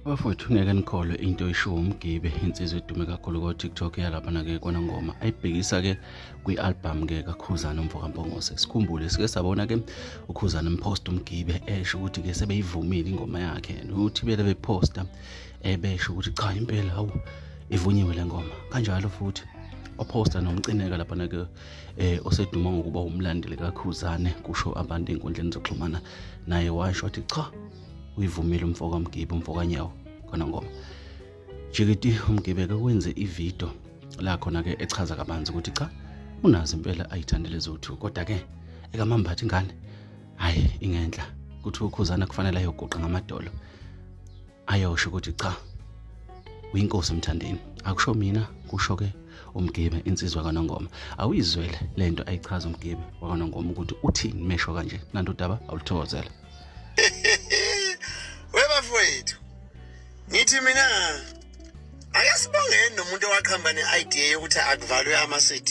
Bafowethu ngeke nikholwe into oyishiwo umgibe insizwa edume kakhulu ko-tiktok yalaphana-ke kona ngoma ayibhekisa-ke kwi-albhamu-ke kakhuzana umfo kampongose sikhumbule sike sabona-ke ukhuzana mphosta umgibe esho ukuthi-ke sebeyivumile ingoma yakhe and uthi bele bephosta ebesho ukuthi cha impela hawu ivunyiwe le ngoma kanjalo futhi ophosta nomcineka laphana-ke eh oseduma ngokuba umlandeli kaKhuzane kusho abantu enkundleni zokuxhumana naye washo wathi cha uyivumile umfoka Mgibe umfoka Nyawo khona ngoma Jikiti umgibeke kwenze ivideo la khona ke echaza kabanzi ukuthi cha unazi impela ayithandele zothu kodwa ke ekamambathi ingane hayi ingenhla kuthi ukhuzana kufanele ayoguqa ngamadolo ayosho ukuthi cha uyinkosi emthandeni akusho mina kusho ke umgibe insizwa kanongoma awuyizwele lento ayichaza umgibe wakanongoma ukuthi uthini mesho kanje nanto daba awulithokozela webafowethu ngithi mina akasibongeni nomuntu owaqhamba ne-idea yokuthi akuvalwe ama-cd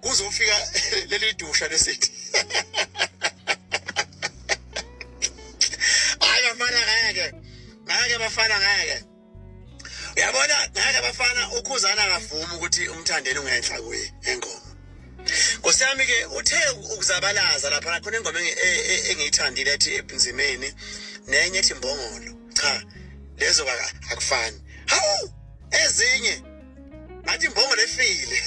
kuzofika leli dusha lesithi hayi bafana ngeke ngeke bafana ngeke uyabona ngeke bafana ukhuzana akavumi ukuthi umthandeni ungenhla kuye engoma nkosi yami ke uthe ukuzabalaza lapha khona ingoma e, e, engiyithandile ethi ebunzimeni nenye ethi mbongolo cha lezo akufani hawu ezinye ngathi imbongo lefile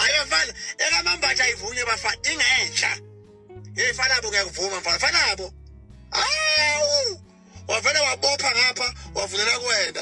ayo mfana ekamambatha ayivunywe bafana ingenhla hey fanabo ngiyakuvuma mfana fanabo awu wavele wabopha ngapha wavulela kuwena